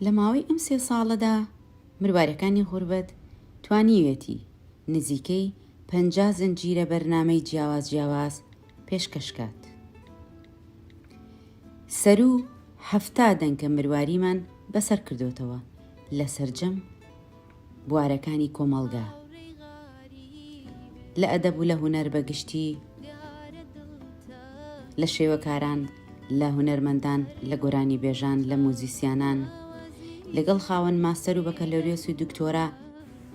لە ماوەی ئەم سێ ساڵەدا مروارەکانی غوربەت توانیویەتی نزیکەی پەنجا زنجیرە بەرنامەی جیاواز جیاواز پێشکەش کات. سەروو حەفتا دەنکە مرواریمان بەسەر کردۆتەوە لە سەرجەم بوارەکانی کۆمەڵگە، لە ئەدەب و لە هونەر بە گشتی، لە شێوەکاران، لە هونەرمەندان، لە گۆرانیبێژان، لە موزیسیانان، لەگەڵ خاوەن ماستەر و بەکەلۆریۆس و دکتۆرا،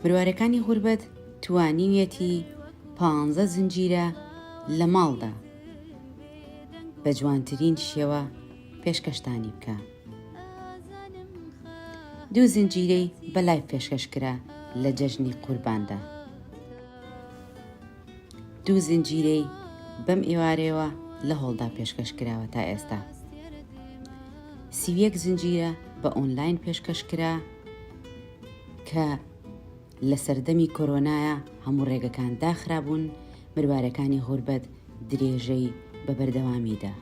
بروارەکانی غوربەت توانیویەتی پانزە زنجیرە لە ماڵدا بە جوانترین شێوە پێشکەشتانی بکا. دوو زنجیرەی بە لایڤ پێشکەش کرا لە جەژنی قورباندا دوو زنجیرەی بەم ئێوارەیەوە لە هۆڵدا پێشکەش کراوە تا ئێستا سیویەک زنجیرە بە ئۆنلاین پێشکەش کرا کە لە سەردەمی کۆرۆنایا هەموو ڕێگەکان داخرابوون، مروارەکانی غوربەت درێژەی بە بەردەوامی دا.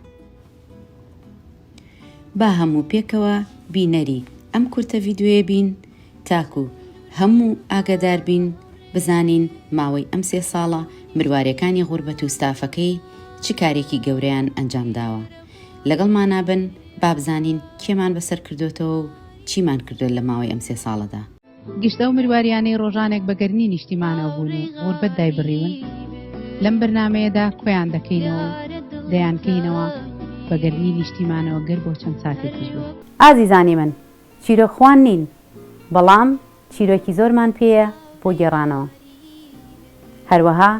با هەموو پێکەوە بینەری ئەم کورتە ڤیدیۆیە بین تاکوو هەموو ئاگەدار بین بزانین ماوەی ئەم سێ ساڵە مروارەکانی غوربەت و ستافەکەی چ کارێکی گەورەیان ئەنجام داوە. لەگەڵمانا بن با بزانین کێمان بەسەر کردۆتەوە و چیمان کردوە لە ماوەی ئەم سێ ساڵەدا. گشت ئەو مرواریانەی ڕۆژانێک بە گەرمی نیشتیمانەوە بوون و غوربەت دایبڕیون لەم بەرنمەیەدا کۆیان دەکەینەوە دەیانکەینەوە بە گەرمی نیشتیمانەوە گەر بۆ چەند ساتێکیش بێت. ئازیزانی من، چیرۆکخوان نین، بەڵام چیرۆکی زۆرمان پێیە بۆ گێڕانەوە. هەروەها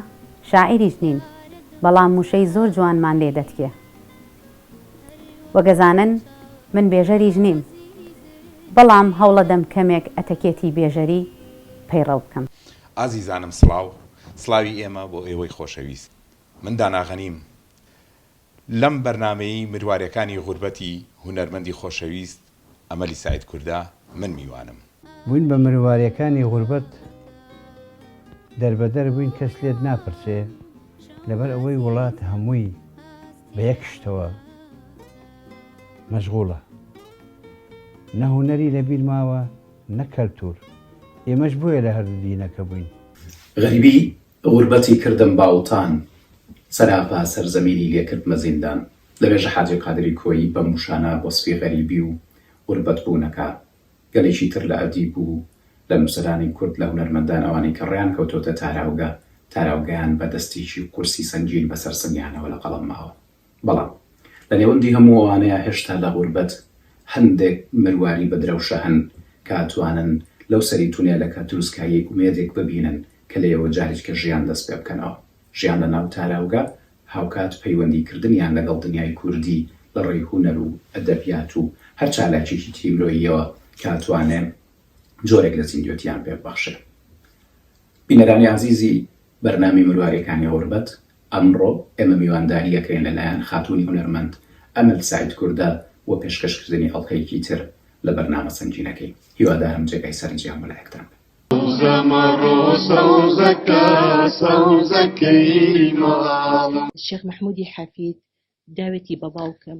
شاعیریش نین، بەڵام وشەی زۆر جوانمان لێ دەتکێ. وەک ئەزانن من بێژەریش نیم بەڵام هەوڵەدەم کەمێک ئەتەکێتی بێژەری پەیڕەو بکەم. ئازیزانم سڵاو سڵاوی ئێمە بۆ ئێوەی خۆشەویست من دانا غەنیم لەم بەرنامەی مروارێکانی غوربەتی هونەرمەندی خۆشەویست ئەمەلی سەعید کوردە من میوانم. بووین بە مرواریەکانی غوربەت دەربەدەر بووین کەس لێت ناپرسێ لەبەر ئەوەی وڵات هەمووی بە یەک شتەوە مەشغوڵە نە هونەری لە بیر ماوە نە کەلتور ئێمەش بۆیە لە هەردوو دینەکە بووین. غەریبی غوربەتی کردم باوتان سەراپا سەرزەمینی لێ کردمە زیندان لە مێژە حاجی قادری کۆیی بەم وشانە وەسفی غەریبی و غوربەت بوون ئەکا گەلێکی تر لە ئەدیب و لە نووسەرانی کورد لە هونەرمەندان ئەوانەی کە ڕێیان کەوتۆتە تاراوگە تاراوگەیان بە دەستێکی قورسی سەنگین بەسەر سنگیانەوە لە قەڵەم ماوە. بەڵام لە نێوەندی هەموو ئەوانەیا هێشتا لە غوربەت هەندێک مرواری بە درەوشە هەن کە ئەتوانن لەو سەری تونێلەکە تروسکایی ئومێدێک ببینن کە لێیەوە جاریکە ژیان دەست پێ بکەنەوە ژیان لە ناو تاراوگە هاوکات پەیوەندی کردنیان لەگەڵ دنیای کوردی لە ڕێی هونەر و ئەدەبیات و هەر چالاکیەکی تری مرۆییەوە کە ئەتوانێ جۆرێک لە زیندوێتیان پێ ببەخشێ. بینەرانی ئازیزی بەرنامەی مروارێکانی غوربەت ئەمڕۆ ئێمە میوانداری ئەکرێن لە لایەن خاتوونی هونەرمەند ئەمەل سەعید کوردە بۆ پێشکەش کردنی ئەڵقەیەکی تر لە بەرنامە سەنگینەکەی. هیوادارم جێگای سەرنجیان بۆ لایەکتان بێ. سەوزە مەڕۆ سەوزەکە سەوزەکەی ماڵم. شێخ مەحمودی حەفید داوێتی بە باوکم.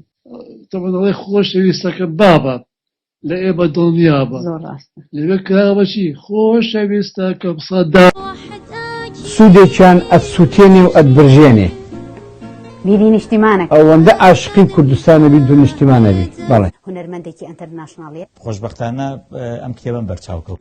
تەمەنەڵەی خۆشەویستەکە بابە لە ئێ بە دڵنیابە لەوێ کراوەچی خۆشەویستە کە بسە دا. سودێکیان ئەتسوتێنێ و ئەتبرژێنێ. بیری نیشتیمانە ئەوەندە ئاشقی کوردستانە بی دو نیشتیمانە بی بەڵێ هونەرمەندێکی ئەنتەرناشناڵیە. خۆشبەختانە ئەم کتێبەم بەرچاو کەوت.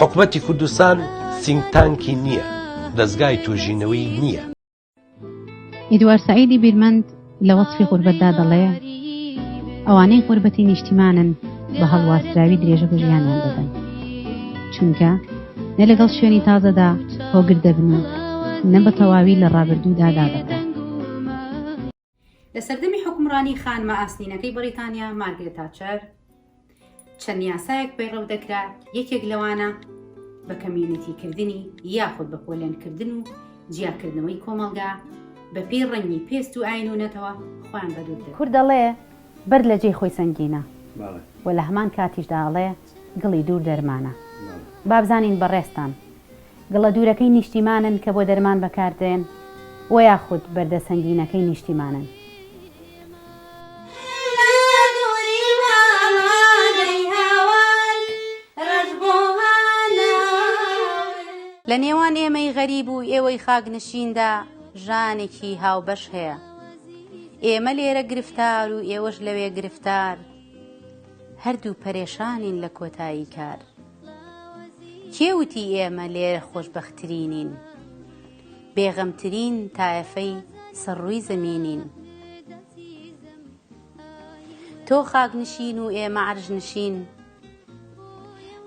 حکومەتی کوردستان سینگ تانکی نییە دەستگای توژینەوەی نییە. ئیدوار سەعیدی بیرمەند لە وەسفی غوربەتدا دەڵێ، ئەوانەی غوربەتی نیشتیمانن بە هەڵواسراوی درێژە بە ژیانیان دەدەن، چونکە نە لەگەڵ شوێنی تازەدا هۆگر دەبن و نە بە تەواوی لە ڕابردوودا دادەبڕن. لە سەردەمی حکومڕانی خانمە ئاسنینەکەی بەریتانیا مارگرێت تاچەر چەند یاسایەک پەیڕەو دەکرا یەکێک لەوانە بە کەمیونیتیکردنی یاخود بە پۆلێنکردن و جیاکردنەوەی کۆمەڵگا بە پێی ڕەنگی پێست و ئاین و نەتەوە خۆیان بەدوور دەکرد. کورد دەڵێ بەرد لە جێی خۆی سەنگینە و لە هەمان کاتیشدا ئەڵێ گڵی دوور دەرمانە. با بزانین بەڕێزتان گڵە دوورەکەی نیشتیمانن کە بۆ دەرمان بەکاردێن و یاخود بەردە سەنگینەکەی نیشتیمانن. لە نێوان ئێمەی غەریب و ئێوەی خاکنشیندا ژانێکی هاوبەش هەیە. ئێمە لێرە گرفتار و ئێوەش لەوێ گرفتار، هەردوو پەرێشانین لە کۆتایی کار. کێ وتی ئێمە لێرە خۆشبەختترینین؟ بێغەمترین تایەفەی سەر ڕووی زەمینین. تۆ خاکنشین و ئێمە عەرشنشین،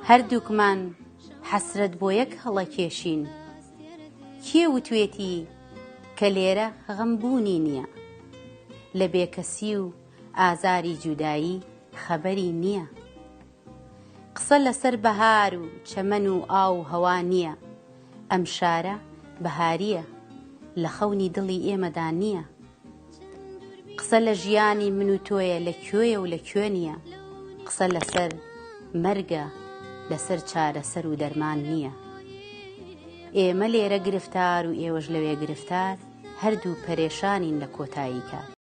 هەردووکمان حەسرەت بۆ یەک هەڵە کێشین. کێ وتوێتی کە لێرە غەم بوونی نییە؟ لە بێکەسی و ئازاری جودایی خەبەری نییە. قسە لەسەر بەهار و چەمەن و ئاو و هەوا نییە، ئەم شارە بەهارییە لە خەونی دڵی ئێمەدا نییە. قسە لە ژیانی من و تۆیە لە کوێیە و لە کوێ نییە، قسە لەسەر مەرگە لەسەر چارەسەر و دەرمان نییە. ئێمە لێرە گرفتار و ئێوەش لەوێ گرفتار، هەردوو پەرێشانین لە کۆتایی کار.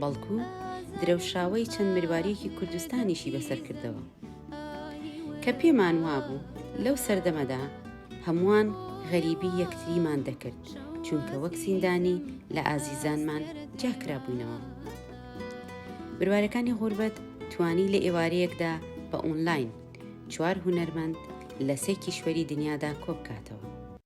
بەڵکو درەوشاوەی چەند مرواریەکی کوردستانیشی بەسەر کردەوە کە پێمان وابوو لەو سەردەمەدا هەمووان غەریبی یەکتریمان دەکرد چونکە وەک زیندانی لە ئازیزانمان جاکرا بووینەوە بروارەکانی غوربەت توانی لە ئێوارەیەکدا بە ئۆنلاین چوار هونەرمەند لە سێ کیشوەری دنیادا کۆبکاتەوە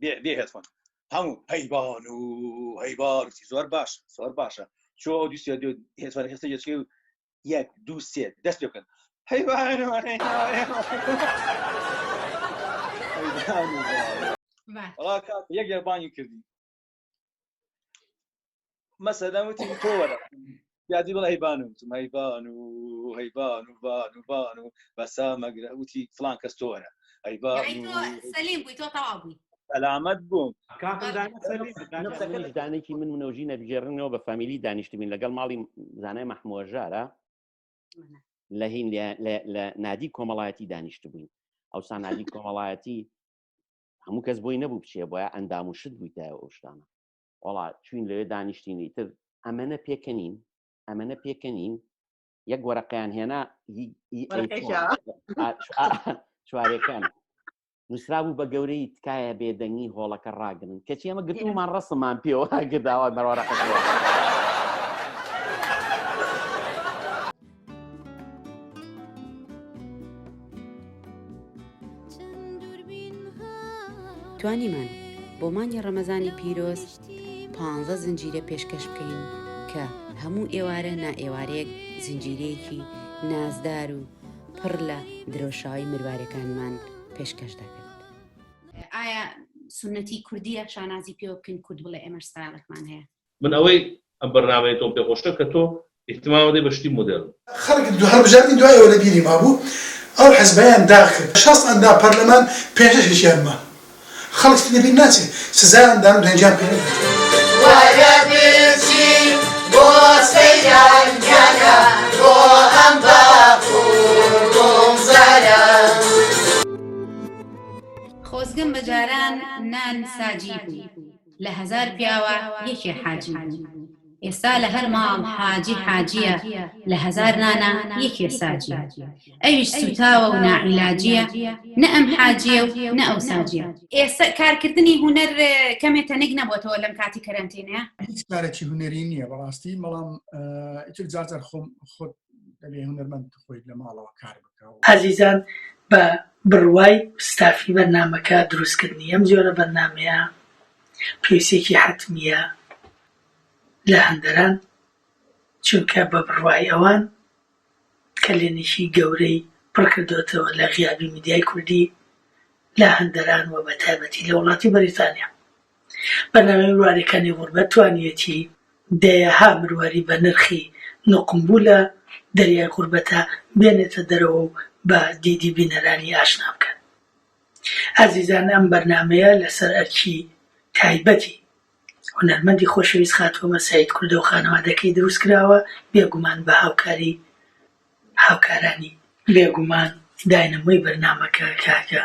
بێ بێ هێتفۆن هەموو هەیبان و هەیبان زۆر باش زۆر باشە چۆ ئەو دوست هێتفۆن هێستا یەچکەی و یەک دوو سێ دەست پێ بکەن هەیبان و هەیبان و وڵا کاک یەک یەربانی کردی مەسەدە وتی تۆ وەرە یادی بڵ هەیبان و وتم هەیبان و هەیبان و بان و بان و بەسا مەگرە وتی فلان کەس تۆ وەرە هەیبان یعنی و تۆ سەلیم بووی تۆ تەواو بووی سەلامەت بووم کاکم دانە سەلیم دانە منیش دانێکی من منەوژی نەبژێڕنەوە بە فامیلی دانیشتبین لەگەڵ ماڵی زانای مەحمووە ژارە لە هین لە- لە- لە نادی کۆمەڵایەتی دانیشتبووین ئەو سانادی کۆمەڵایەتی هەموو کەس بۆی نەبوو بچێ بۆە ئەندام و شت بوویتایە ئەو شتانە وڵا چوین لەوێ دانیشتینی تر ئەمەە پێکەنین ئەمەە پێکەنین یەک وەرەقیان هێنا چوارەکان نووسرا بوو بە گەورەی تکایە بێدەنگی هۆڵەکە ڕاگرن کەچی ئەمە گرتومان ڕستمان پێوە گرداوای مەڕەقە توانیمان بۆ مانگی ڕەمەزانی پیرۆز پ زنجیرە پێشکەش بکەین کە هەموو ئێوارە نائێوارەیەک زنجیرەیەکی نازدار و پڕ لە درۆشاوی مروارەکانمان پێشکەش دەکرد ئایا سنەتی کوردیە شانازی پێوە بکەین کورد بڵێ ئێمەش ستایلێکمان هەیە. من ئەوەی ئەم بەرنامەی تۆم پێ خۆشە کە تۆ ئیهتمام ئەدەی بە شتی مۆدێرن. خەڵک دوو هەڵبژاردنی دوای ئەوە لە بیری مابوو ئەو حزبەیان داخکرد بە شەست ئەندام پەرلەمان پێنجەش هیچیان ما خەڵک تر لە بیر ناچێ سزایان دان و دەنگیان پێ نەکرد. لە هەزار پیاوە یەکێ حاجی بوو ئێستا لە هەر ماڵ حاجی حاجیە لە هەزار نانا یەکێ ساجیە ئەویش سوتاوە و ناعیلاجیە نە ئەم حاجیە و نە ئەو ساجیە ئێستا کارکردنی هوەر کەمێ تەنێک نەبووەوە لەم کاتی کەرەنتینەیە هیچ کارێکی هوەری نییە بەڕاستی بەڵام ئیتر جاجار خۆم خۆت ئازیزان بە بڕوای ستافی بەرنامەکە دروستکردنی ئەم جۆرە بەرنامەیە پێویستیەکی حەتمیە لە هەندەران چونکە بە بڕوای ئەوان کەلێنێکی گەورەی پڕکردۆتەوە لە غیابی میدیای کوردی لە هەندەران و بە تایبەتی لە وڵاتی بەریتانیا. بەناوی مروارەکانی غوربەت توانیویەتی دەیەها مرواری بەنرخی نوقمبوو لە دەریای غوربەتا بێنێتە دەرەوە و بە دیدی بینەرانی ئاشنا بکات. ئازیزان ئەم بەرنامەیە لەسەر ئەرکی تایبەتی هونەرمەندی خۆشەویست خاتوو ئەمە سەید کوردە و خانەوادەکەی دروست کراوە، بێگومان بە هاوکاری هاوکارانی. بێگومان داینەمۆی بەرنامەکە کاکە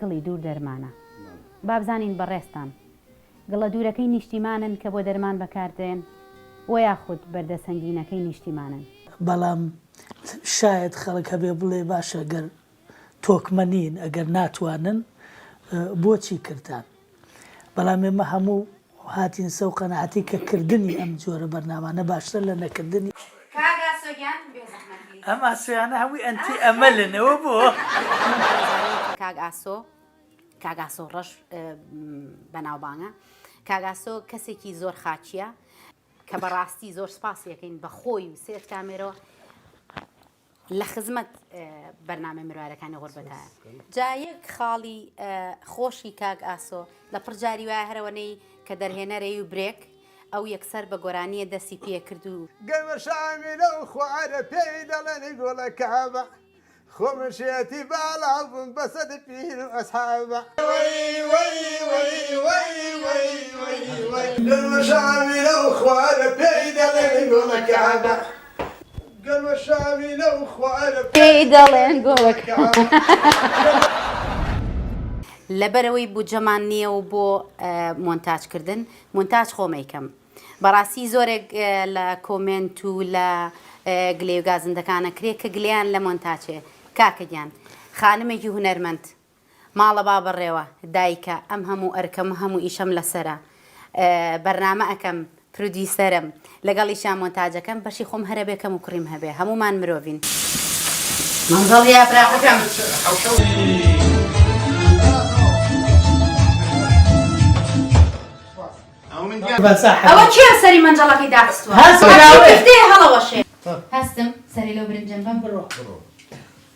گڵی دوور دەرمانە. بابزانین بەڕێزتان گڵە دوورەکەی نیشتیمانن کە بۆ دەرمان بەکاردێن و یاخود بەردە سەنگینەکەی نیشتیمانن؟ بەڵام شایەد خەڵک هەبێ بڵێ باشە گەر تۆکمە نین ئەگەر ناتوانن بۆچی کردان؟ بەڵام ئێمە هەموو هاتین سەو قەناعەتی کە کردنی ئەم جۆرە بەرنامانە باشترە لە نەکردنی. کاک ئاسۆ گیان بێ زەحمەت لێی. ئەم ئاسۆیانە هەمووی ئەنتی ئەمەلن ئەوە بۆ؟ کاک ئاسۆ کاک ئاسۆ ڕەش بەناوبانگە کاک ئاسۆ کەسێکی زۆر خاکیە کە بەڕاستی زۆر سپاسی یەکەین بە خۆی و سێت کامێرەوە لە خزمەت بەرنامەی مروارەکانی غوربەتە جا یەک خاڵی خۆشی کاک ئاسۆ لە پڕ جاری وایە هەرەوەنەی کە دەرهێنەرەی و برێک ئەو یەکسەر بە گۆرانیە دەسی پێ کرد و گەمەشامیلە و خوارە پێی دەڵێنی گوڵە کابە خۆ من شێتی باڵاو بووم بە سەد پیر و ئەسحابە گەمەشامیلە و خوارە پێی دەڵێنی گوڵە کابە پێی دەڵێن گۆرەکە. لەبەرئەوەی بودجەمان نییە و بۆ مۆنتاجکردن مونتاج خۆم ئەیکەم بەڕاستی زۆرێک لە کۆمێنت و لە گلێ و گازندەکانە کرێ کە گلیان لە مۆنتاچێ کاکە گیان خانمێکی هونەرمەند ماڵە بابەڕێوە دایکە ئەم هەموو ئەرکەم هەموو ئیشەم لەسەرە بەرنامە ئەکەم پرودیوسەرم لەگەڵیشا مۆنتاجەکەم بەشی خۆم هەرەبێ کەم و کوڕیم هەبێ هەموومان مرۆڤین مەنزڵ یا براقەکەم ئەوە کێ سەری مەنجەڵەکەی داخستوە هەستم سەری لەو برنجەم بەم بڕۆ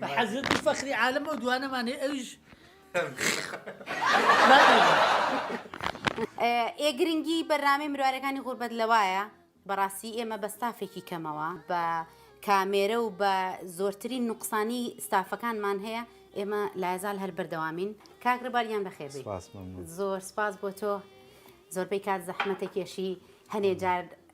بە حەزرەتی فەخری عالم ئەو دوانەمان هەیە ئەویش ئێ گرنگی بەرنامەی مروارەکانی غوربەت لەوایە بەڕاستی ئێمە بە ستافێکی کەمەوە بە کامێرە و بە زۆرترین نوقسانی ستافەکانمان هەیە ئێمە لایزال هەر بەردەوامین کاکرباریان بەخێ زۆر سپاس بۆ تۆ زۆربەی کات زەحمەتە کێشی هەنێ جار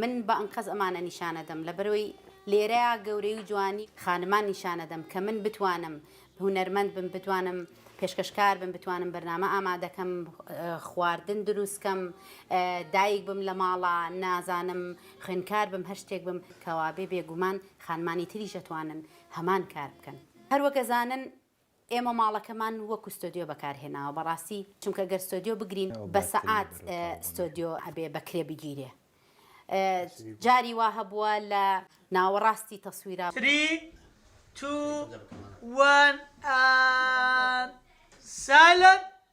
من بە ئەنقەست ئەمانە نیشانە دەم لەبەرەوەی لێرەیا گەورەی و جوانی خانمان نیشانە دەم کە من بتوانم هونەرمەند بم بتوانم پێشکەشکار بم بتوانم بەرنامە ئامادەکەم خواردن دروست کەم دایک بم لە ماڵا نازانم خوێنکار بم هەر شتێک بم کەوابێ بێگومان خانمانی تریش ئەتوانن هەمان کار بکەن هەروەک ئەزانن ئێمە ماڵەکەمان وەکو ستۆدیۆ بەکارهێناوە بەڕاستی چونکە گەر ستۆدیۆ بگرین بە سەعات ستۆدیۆ ئەبێ بەکرێ بگیرێ جاری وا هەبووە لە ناوەڕاستی تەسویرا. Three Two One And Silent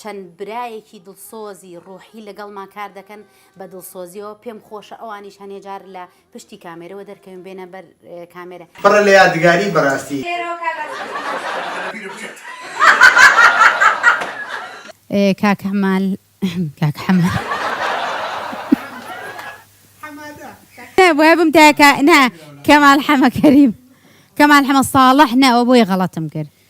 چەند برایەکی دڵسۆزی ڕوحی لەگەڵمان کار دەکەن بە دڵسۆزیەوە پێم خۆشە ئەوانیش هەنێ جار لە پشتی کامێرەوە دەرکەوین بێنە بەر کامێرە. بڕە لە یادگاری بەراستی. کاک حمال کاک حمال نا بوایە بم تاکە نا کەمال حەمە کەریم کەمال حەمە ساڵح نا ئەوە بۆیە غەڵەتم کرد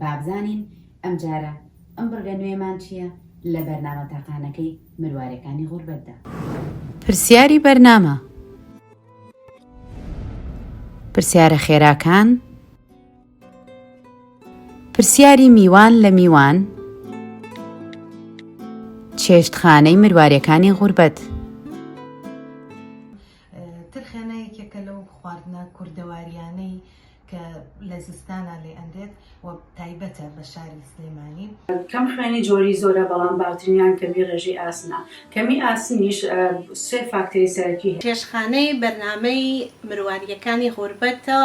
بابزانین ئەمجارە ئەم بڕگە نوێمان چیە لە بەرنامە تاقانەکەی مروارێکانی غوربەتدا. پرسیاری بەرنامە. پرسیارە خێراکان. پرسیاری میوان لە میوان. چێشتخانەی مروارێکانی غوربەت. ترخێنە یەکێکە لەو خواردنە کوردەوارییانەی کە لە زستانا لێ ئەنرێت و تایبەتە بە شاری سلێمانی. کەم خوێنی جۆری زۆرە بەڵام باوترینیان کەمی ڕێژەی ئاسنە. کەمی ئاسنیش سێ فاکتەری سەرەکی هەیە. چێشتخانەی بەرنامەی مروارییەکانی غوربەتە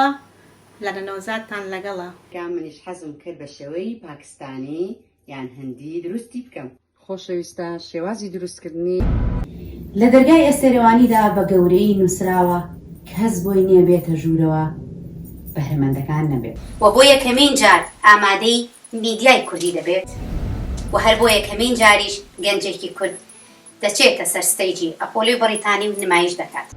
لەرە نەوزادتان لەگەڵە. کە منیش حەزم کرد بە شێوەی پاکستانی یان هندی دروستی بکەم. خۆشەویستە شێوازی دروست کردنی. لە دەرگای ئێستێرەوانیدا بە گەورەیی نووسراوە کەس بۆی نیە بێتە ژوورەوە بەهرەمەندەکان نەبێت. وە بۆ یەکەمین جار ئامادەی میدیای کوردی دەبێت و هەر بۆ یەکەمین جاریش گەنجێکی کورد دەچێتە سەر ستەیجی ئەپۆلۆی بەڕیتانی و نمایش دەکات.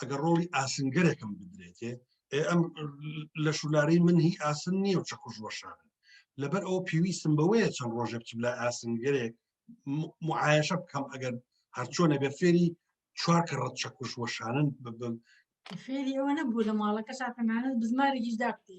ئەگەر ڕۆڵی ئاسنگەرێکم بدرێتێ ئەم لە شولارەی من هی ئاسن نییە و چەکوش وەشان لەبەر ئەوە پێویستم بەوەیە چەند ڕۆژێ بچم لە ئاسنگەرێک معاەشە بکەم ئەگەر هەرچۆنە بە فێری چوار کە ڕەت چەکوش وەشانن ببم فێری ئەوە نەبوو لە ماڵەکە شاتەمانە بزمارێکیش دابتی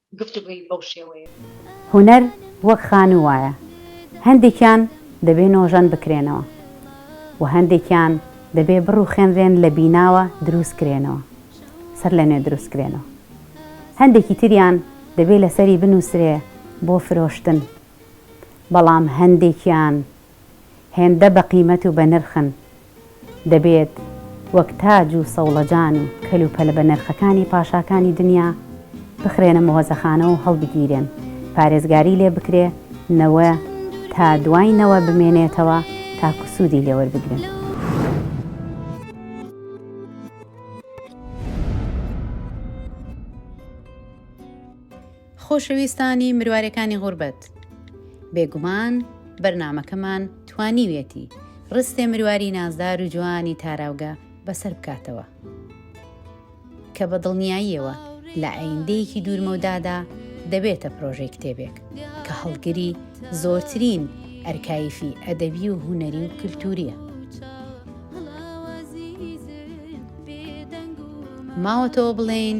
گفتوگۆی بەو شێوەیە بوو. هونەر وەک خانوو وایە، هەندێکیان دەبێ نۆژەن بکرێنەوە و هەندێکیان دەبێ بڕووخێنرێن لە بیناوە دروست کرێنەوە، سەرلەنوێ دروست کرێنەوە. هەندێکی تریان دەبێ لەسەری بنووسرێ بۆ فرۆشتن. بەڵام هەندێکیان. هێندە بە قیمەت و بە نرخن، دەبێت وەک تاج و سەوڵەجان و کەل و پەلە بە نرخەکانی پاشاکانی دنیا بخرێنە مۆزەخانە و هەڵبگیرێن، پارێزگاری لێ بکرێ، نەوە تا دوای نەوە بمێنێتەوە تاکو سوودی لێ وەربگرن. خۆشەویستانی مروارێکانی غوربەت، بێگومان بەرنامەکەمان توانیویەتی ڕستێ مرواری نازدار و جوانی تاراوگە بەسەر بکاتەوە، کە بە دڵنیاییەوە لە ئایندەیەکی دوورمەودادا دەبێتە پرۆژەی کتێبێک، کە هەڵگری زۆرترین ئەرکایفی ئەدەبی و هونەری و کلتوورییە. ماوەتەوە بڵێین.